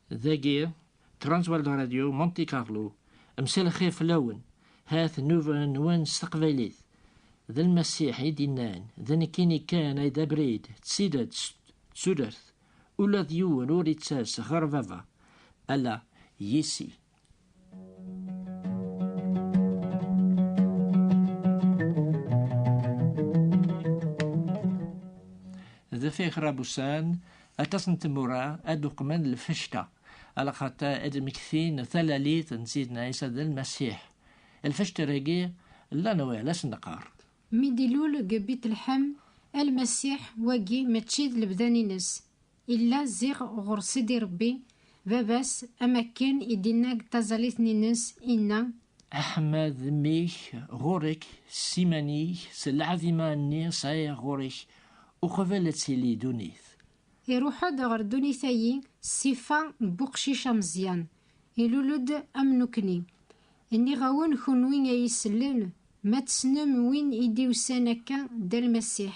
Dagi, Transworld Radio Monte Carlo, msalxir fell-awen, hat nnuba-nwen s teqbaylit. D lmasiḥ i d-innan, d nekkini kan ay d abrid, d tidet, d tudert. Ula d yiwen ur itters ɣer baba, ala yis-i. deffir Rabusan, aṭas n tmura ad uqmen lfecta, ala xaṭa ad d-mmektin talalit n Sidna Ɛisa d Lmasiḥ. Lfecta-agi llan wala s-neqqar. Mi d-ilul deg Bitlḥem, Lmasiḥ, wagi mačči d lebda-nnes. Illa ziɣ ɣur Sidi Rebbi, baba-s, am akken i d-inna deg taẓallit n Inez, inna. Aḥmad mmi-k ɣur-k, s iman-ik, s lɛaḍima-nni sɛiɣ ɣur-k, uqbel ad tili dunit. Iruḥ-d ɣer dunit-ayi s ssifa n buqcic ameẓyan, ilul-d am nukni. Nniɣ-awen kunwi ay isellen, ma tessnem win i d-iwsan akka, d Almasiḥ.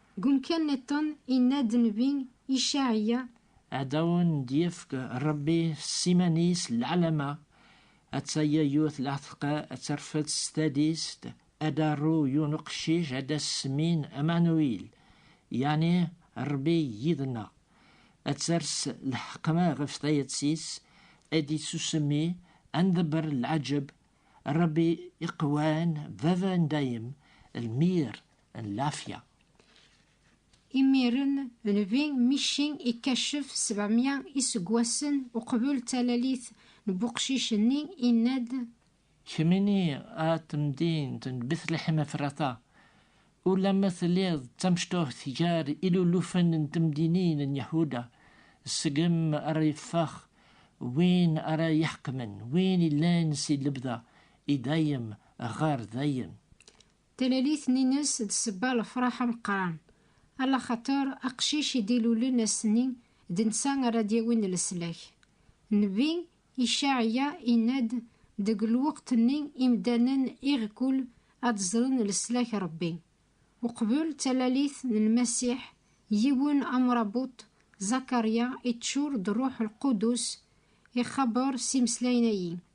Deg umkan niḍen, yenna-d nnbi Icaɛiya. Ad awen-d-yefk Rebbi s iman-is lɛelma, atta yayut laɛteqqa, ad terfed s tadist, ad d-aru yiwen uqcic, ad as-semmin Amanuil, yeɛni Rebbi yid-nneɣ. Ad ters lḥeqma ɣef tayet-is, ad d-ittusemmi, ad ndebber lɛeǧǧeb, Rebbi iqewwan, Baba n dayem, lmir, n lɛafya. Imiren, Nnbi Mici ikacef sebɛemya iseggasen uqbel talalit n uqcic-nni, inna-d. Kemm ini a temdint n Betleḥem Efrata, Ulamma telliḍ d tamecṭuḥt gar ilulufen n temdinin n Yahuda, seg-m ara yeffeɣ win ara iḥekmen, win illan si lebda i dayem ɣer dayem. Talalit n ines d sebba lefraḥ ameqqran, ala xater aqcic i d-ilulen ass-nni d netta ara d-yawin leslak. Nnbi Icaɛya inna-d, Deg lweqt-nni imdanen iɣkul ad ẓren leslak Rebbi. Uqbel d talalit n Lmasiḥ, yiwen amrabuṭ, Zakarya, iččur d Rruḥ Lqudus, ixabber s imeslayen-agi.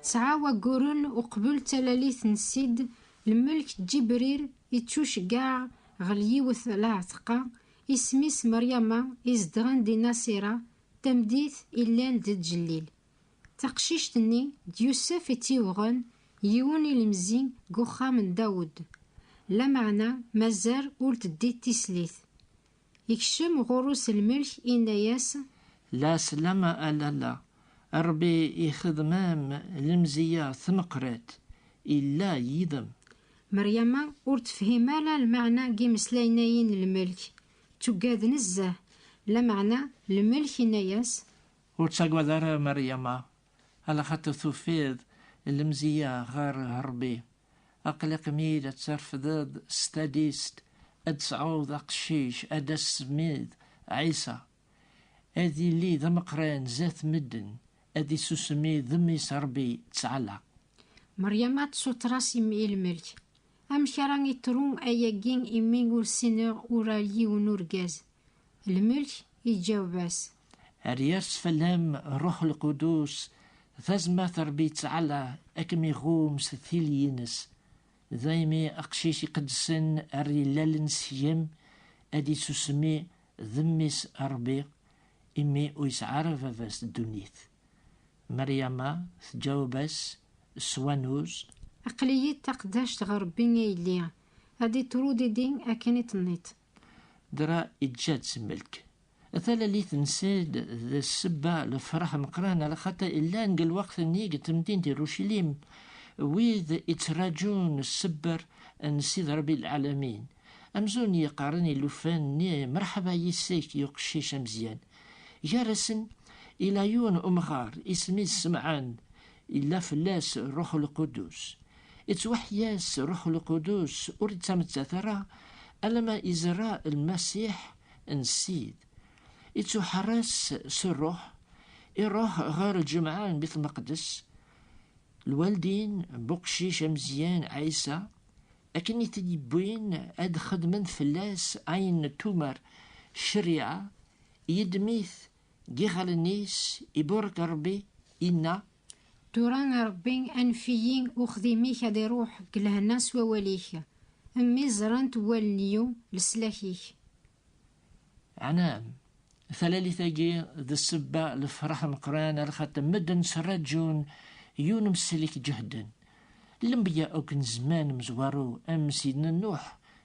Tesɛa wagguren uqbel d talalit n Sid Lmelk Ǧibrir ittuceggaɛ ɣel yiwet lɛetqa isem-is Meryama izedɣen di Nasira tamdit illan d Ǧellil. Taqcict-nni d Yusef i tt-yebɣen yiwen ilemzi deg uxxam n Dawed. Lameɛna mazal ur teddi tislit. Yekcem ɣur-u s lmelk, inna-yas. La slam a lalla, Rebbi ixedem-am lemziya tmeqrat, illa yid-m. Meryama ur tefhim ara lmeɛna n yimeslayen-ayi n lmelk, tuggad nezzeh, lameɛna lmelk inna-yas. Ur ttagad ara a Meryama, alaxaṭer tufiḍ lemziya ɣer Rebbi. Aqli qmil ad terfdeḍ s talist ad tesɛuḍ aqcic ad as-smiḍ Ɛisa. Ad yili d ameqran zat medden, ad isusmi d mmi-s Rebbi ttɛala. Meryama tessuter-as i mmi lmelk. Amek ara itru ayagi imi ur ssineɣ ur ar yiwen urgaz? Lmelk iǧaweb-as. Ad yers fell-am Rruḥ Lqudus, tazmert Ṛebbi ttɛala ad kem-iɣum s tili-ines. Daymi aqcic iqedsen ar yellalen seg-m ad isusmi d mmi-s Ṛebbi, imi ur yesɛi ara baba-s ddunit. Meryama tǧaweb-as s wanuz. Aql-iyi d taqeddact ɣer Ṛebbi a yelli, ad d-iṭru didi akken i tenniḍ. Dra iǧǧa-tt melk. Talalit n Sed d sebba lefraḥ meqran ala xaṭi illan deg lweqt-nni deg temdint Irucilim wid ittraǧun sebber n Sidi Rebbi Lɛalamin. Amzun yeqqaren ilufan-nni Merḥaba yis-k yuqcic ameẓyan. Gar-asen ila yiwen umɣar isem-is Semɛan Illa fell-as Ṛṛuḥ Lqudus. Ittwaḥya-s Ṛṛuḥ Lqudus, ur ittamettat ara alamma izerreɛ Lmasiḥ n Ssid. Ittuḥeṛṛes s Ṛṛuḥ, iṛuḥ ɣer lǧemɛa n Bit Meqdes, lwaldin n uqcic ameẓyan Ɛisa, akken i t-id-yewwin ad d-xedmen fell-as ayen n tumar, ccariɛa, yeddem-it Giɣ allen-is, iburek Rebbi, inna. Tura a Rebbi, anef-iyi, uxdim-ik ad iruḥ deg lehna s wawal-ik, mmi ẓrant wallen-iw leslak-ik. Ɛnaam, talalit-agi d ssebba n lefraḥ ameqqran ar xaṭi medden ttraǧun yiwen umesli k-ǧehden. Lenbeyya akk n zzman mezwaru am Sidna Nuḥ,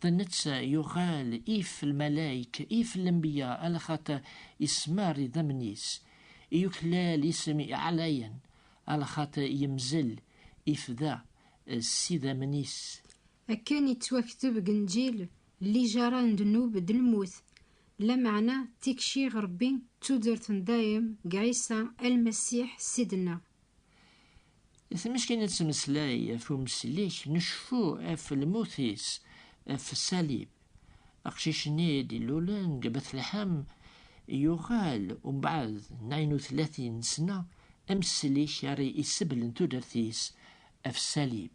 D netta yuɣal if lmalayk, if lenbiya, ala xaṭer ismar idammen-is, i yuklal isem iɛlayen, ala xaṭer yemzel, ifda, s idammen-is. Akken i ttwakteb deg Nnǧil, lijaṛa n ddnub d lmut, lameɛna tikci ɣer Ṛebbi d tudert n dayem deg Ɛisa a Lmasiḥ Ssid-nneɣ. Tmeskin ad tmeslay ɣef umeslik n uceffu ɣef lmut-is ɣef ṣṣalib. Aqcic-nni i d-ilulen deg Betleḥam yuɣal umbeɛd nayen u tlatin n ssna ameslik ara yesseblen tudert-is ɣef ṣṣalib.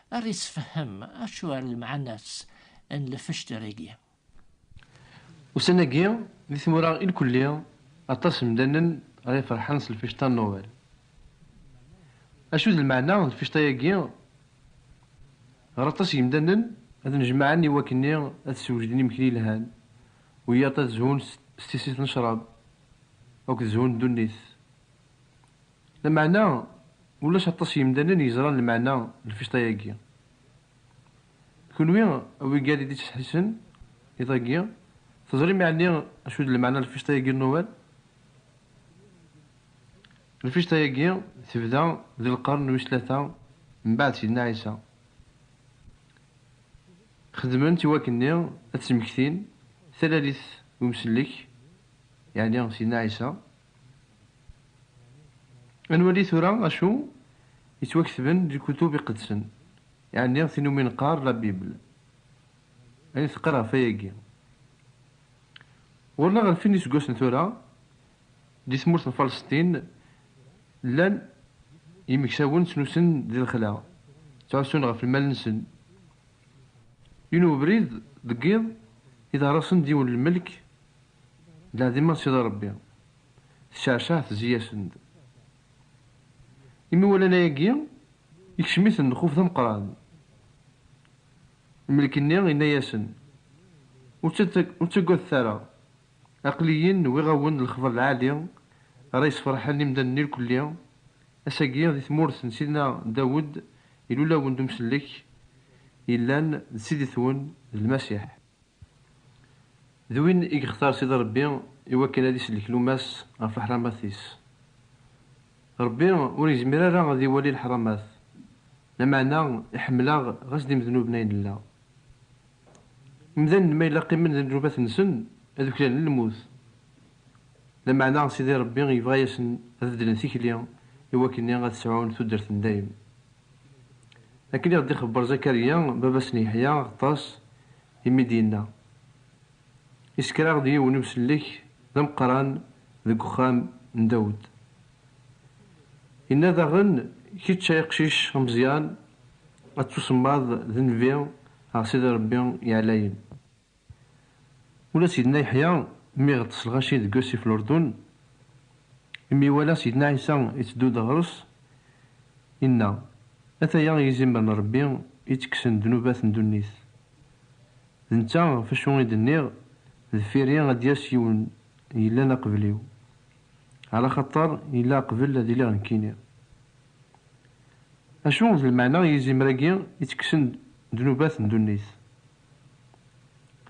Ar isfehhem acu ar lemɛanas n lfecter-agi. Ussan-agi, di tmura ilkulli, aṭas n mdanen ara iferḥen s lfecta n Noël. Acu d lmeɛna n lfecta-agi? Ɣer aṭas n yimdanen, ad nnejmaɛen i wakk-nni ad sewjden imekli yelhan, wiyaḍ ad zhun s tissit n ccrab akked zhu n ddunit. Lameɛna, ulac aṭas n yimdanen yeẓran lmeɛna n lfiṣṭa-agi. D kunwi a wigal i d-ittesḥissen iḍ-agi, teẓrim yeɛni acu d lmeɛna n lfiṣṭa-agi n Nuwal? Lfiṣṭa-agi tebda di lqern wis tlata mbaɛd Sidna Ɛisa. Xedmen-tt i wakken-nni ad d-smektin talalit n umsellek, yeɛni Sidna Ɛisa. Ad nwali tura acu yettwaketben di lkutub iqedsen, yeɛni tin umi neqqar La Bible. Ayen teqqar ɣef wayagi. Ɣur-neɣ ɣer sin n yiseggasen tura, di tmurt n Falesṭin, llan yimeksawen ttnusun di lexla, ttɛussun ɣef lmal-nsen. Yiwen webrid deg yiḍ, iḍerra-sen-d yiwen lmelk Lɛadim a Sidi Ṛebbi, tecceɛceɛ tezzi-yasen-d. Imi walan ayagi, ikcem-iten lxuf d ameqqran. Lmelk-nni yenna-yasen, Ur ttagadet ara, aql-iyi-n wwiɣ-awen-d lexbar lɛali ara yessefṛeḥen imdanen irkelli, ass-agi di tmurt n Sidna Dawed ilul-awen-d umsellek yellan d Sidit-wen, d Lmasiḥ. D win i yextar Sidi Ṛebbi i wakken ad isellek luma-s ɣef leḥramat-is. Ṛebbi ur yezmir ara ad iwali leḥramat, lameɛna iḥemmel-aɣ ɣas d imednuben ay nella. Imdanen ma yella qqimen d ddnubat-nsen ad uklalen lmut, lameɛna Sidi Ṛebbi yebɣa-asen ad beddlen tikli i wakken ad sɛun tuddert n dayem. Akken i ɣ-d-ixebber Zakarya, baba-s n Yeḥya, Ɣeṭṭas, imi d-yenna, Isekker-aɣ-d yiwen usellek d ameqqran deg uxxam n Dawed. Yenna daɣen, Kečč ay aqcic ameẓyan, ad tusemmaḍ d nnbi ɣer Sidi Ṛebbi Iɛlayen. Ula Sidna Yeḥya mi iɣeṭṭes lɣaci deg wasif n Urdun, imi iwala Sidna Ɛisa iteddu-d ɣer-s, inna, Ataya yizimer n Ṛebbi ittekksen ddnubat n ddunit. D netta ɣef wacu i d-nniɣ, Deffir-i ad d-yas yiwen yellan aqbel-iw, ɛlaxaṭer yella aqbel ad iliɣ nekkini. Acu d lmeɛna n yizimer-agi ittekksen ddnubat n ddunit?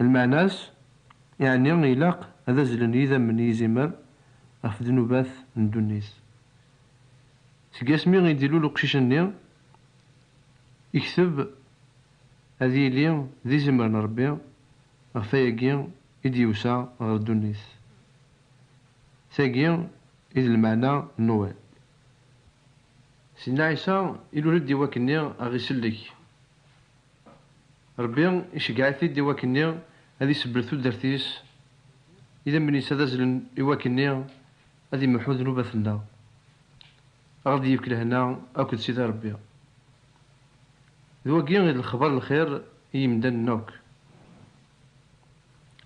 Lmeɛna-s, yeɛni ilaq ad azzlen yidammen n yizimer ɣef ddnubat n ddunit. Seg asmi i d-ilul uqcic-nni, ikteb ad yili d izimer n Rebbi ɣef wayagi i d-yusa ɣer ddunit. Tagi i d lmeɛna n Noël. Sidna Ɛisa ilul-d i wakken i aɣ-isellek. Rebbi iceggeɛ-it-id i wakken-nni ad isebbel tudert-is, idammen-is ad azlen i wakken-nni ad imeḥḥu ddnubat-nneɣ, a ɣ-d-yefk lehna akked Sidi Rebbi. D wagi i d lexbar n lxir i yimdanen akk.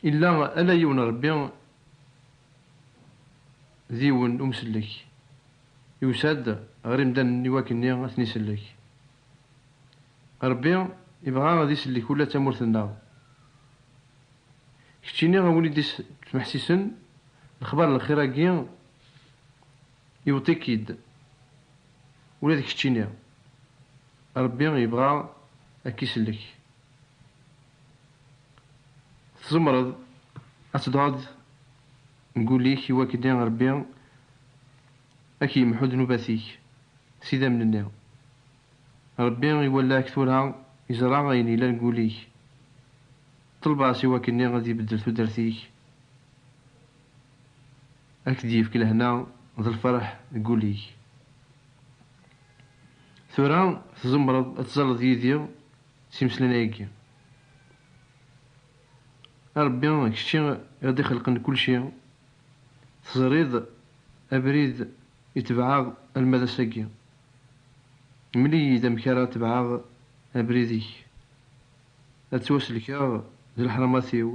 Illa ala yiwen Rebbi, d yiwen Umsellek, yusa-d ɣer imdanen i wakken-nni ad ten-isellek. Rebbi ibɣa ad isellek ula d tamurt-nneɣ. Keččini a win i d-ittmeḥsisen lexbar n lxir-agi, iwweḍ-ik-id ula d keččini. Rebbi ibɣa ad k-isellek. Tzemreḍ ad teddreḍ deg wul-ik iwakken Rebbi. Ad k-yemḥu ddnubat-ik s idammen-nni. Rebbi iwala-k tura, yeẓra ayen yellan deg wul-ik. Ṭleb-as i wakken-nni ad ibeddel tudert-ik, ad k-d-yefk lehna d lferḥ deg wul-ik. Tura tzemreḍ ad tzaleḍ yid-i s imeslanayi-agi. A Rebbi, d kečči i ɣ-d-ixelqen kulci, teẓriḍ Abrid i tebɛeɣ alma d ass-agi. Mel-iyi-d amek ara tebɛeɣ abrid-ik. Ad ttwasellkeɣ d leḥramat-iw.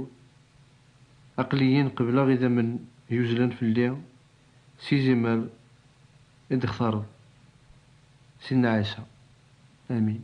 Aql-iyi-n qebleɣ idammen yuzzlen fell-i s yizimer i d-textareḍ, Sidna Ɛisa. Amin.